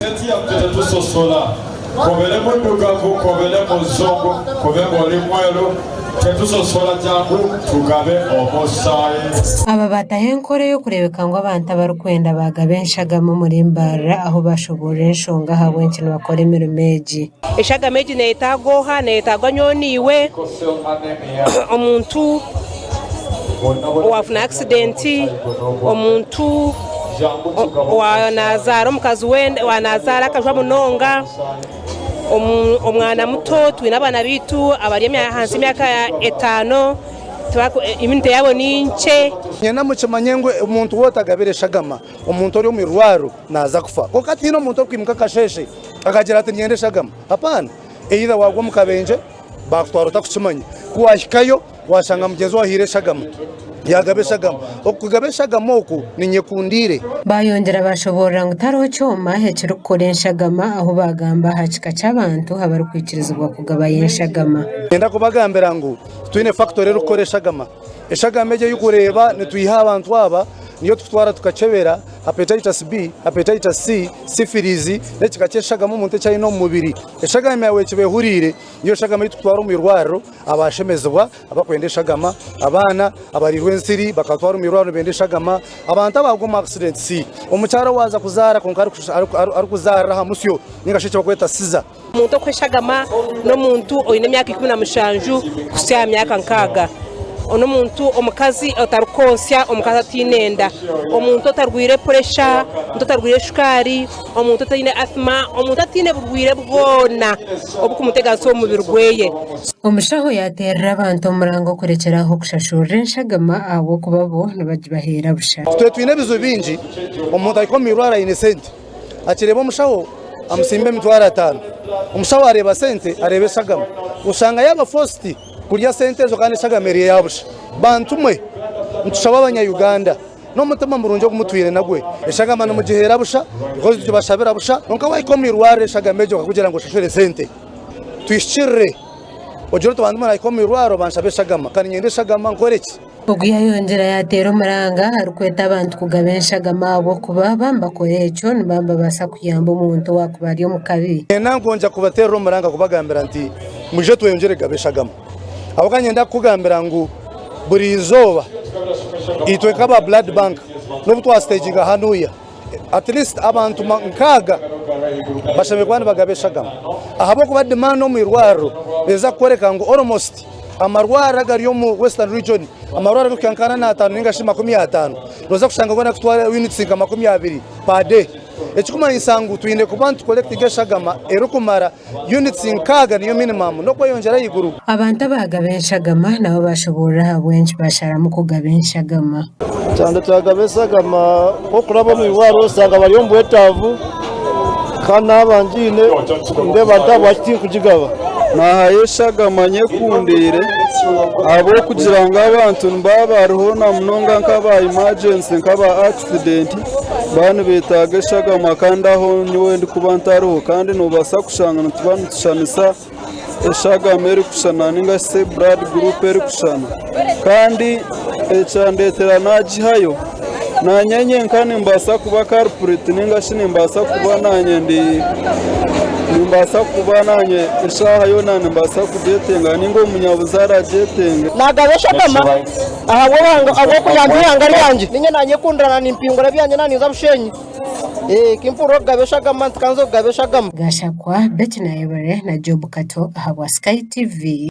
Tiyatwire tusosola kobere mudugavu kobere muzungu kube ngu ori mweru tetusosola jangu tugabe omusayi. Aba baataho enkora ey'okureebeka ngu abantu abarikwenda baagaba enshagama omuri Mbarara ahu baashoboorora enshonga ahabw'enki nibakora emirimo egi. Enshagama egi neeyetaagwa oha? Neeyetaagwa nyowe naiwe, omuntu. Owaafuna akisidenti, omuntu naazaara omukazi we, naazaara akajwa munonga, omwana muto, twine abaana baitu abari ahansi y'emyaka etaano, yuniti yaabo ni nkye. Nyena mukimanye ngu omuntu woona otagabira eshagama omuntu ori omu irwariro naaza kufa. Kwonka tihaine omuntu orikwimuka akasheeshe akagira ati niinyenda eshagama. Hapana! Either waagwa omu kabenje, baakutwara otakukimanya, ku waahikayo, Waashanga mugyenzi we ahaire eshagama, yaagaba eshagama. Oku kugaba eshagama oku ni nyekundiire. Baayongyera baashoboorora ngu tihariho kyoma ekirikukora enshagama ahu baagamba aha kika ky'abantu abarikwikirizibwa kugabayo enshagama. Niinyenda kubagambira ngu twine fakitori erikukora eshagama. Eshagama egi ei kureeba nitwiha aha bantu aba niyo tukutwara tukakyebera Hepatitis B, Hepatitis C, Sifiriizi n'ekika ky'eshagama omuntu eki aine omu mubiri. Eshagama yaawe ekiba ehuriire. Niyo nshagama ei turikutwara omu irwariro abaashemezibwa abarikwenda eshagama, abaana abariirwe ensiri bakabatwara omu irwariro nibenda eshagama, abantu abaagwa omu akisidentisi, omukyara owaaza kuzaara kwonka arikuzaarira aha musyo nainga shi eki barikweta siza. Omuntu okweshagama n'omuntu oine emyaka ikumi na mushanju kuhitsya aha myaka nkaaga. N'omuntu omukazi otarikwotsya, omukazi ataine enda, omuntu otarwaire puresha, omuntu otarwaire shukaari. Omuntu otaine asima, omuntu ataine burwaire bwona obukumutegyatsa omu mubiri gweye. Omushaho yaateerera abantu omurango kurekyera aho kushashurira enshagama ahabw'okuba bo nibagibaheera busha. Itwe twine ebizibu bingi, omuntu ahika omu irwaro aine sente, akireeba omushaho amutsimba emitwaro ataano. Omushaho areeba sente, areeba eshagama. Oshanga yaaba fositi kurya sente ezo kandi eshagama eri eya busha. Bantu mwe, nitushaba Abanyayuganda. N'omutima murungi ogu mutwine nagwo, eshagama nimugiheera busha because nitubashabira busha. Kwonka waahika omu irwariro eshagama egyo bakakugira ngu oshashura esente. Twihikirire ogire oti bantu naahika omu irwariro banshabe eshagama kandi niinyenda eshagama, nkore ki? Ogu yaayongyera yaateera omuranga arikweta abantu kugaba enshagama ahabw'okuba baaba nibakora ekyo nibaaba nibabaasa kuyamba omuntu owaakuba ari omu kabi. Neenanka ngu ngye kubateerera omuranga kubagambira nti, Mwije tweyongyere kugabe eshagama. Ahabw'okuba niinyenda kukugambira ngu buri izooba itwe nk'aba Blood Bank n'obu twasiteeginga hanuuya, at least abantu nkaaga bashemereire kuba nibagaba eshagama ahabw'okuba demand omu irwariro neeza kukworeka ngu almost amarwariro agari omu Western Region, amarwariro arikuhika nka ana n'ataano nainga shi makumi ataano nooza kushanga goona gakutwara units nka makumi abiri per day. Ekirikumanyisa ngu twine kuba nitu collectinga eshagama erikumara Yunitsi nkaaga niyo minimamu n'okweyongyera ahaiguru. Abantu abaagaba enshagama nabo baashoboorora ahabw'enki baasharamu kugaba enshagama. Kyanda kyagaba enshagama nk'okuraba omu irwariro oshanga bari omu bwetaavu kandi naaba ngiine nindeeba nti ahabwaki tinkugigaba. Naahayo enshagama nyekundiire ahabw'okugira ngu abantu nibaba bariho na munonga nk'aba imajensi nk'aba. Aksidenti baba nibeetaaga eshagama kandi aho nyowe ndikuba ntariho kandi noobaasa kushanga nituba nitushushana eshagama erikushushana nainga shi buradi guruupu erikushushana kandi ekyandeetera naagihayo naanye nyenka nimbaasa kuba karipureti nainga shi nimbaasa kuba naanye ndi nimbaasa kuba naanye eshaaha yoona nimbaasa kugyetenga nainga omunyabuzaare agyetenga. Ahabw'okugira ngu eihanga ryangye ninye naanyekundirana nimpingura ebyangye naaninza bushenyi, kimpurira okugaba eshagama ntikanze kugaba eshagama. Gashakwa, Betty Nayebare na Job Kato ahabwa Sky TV.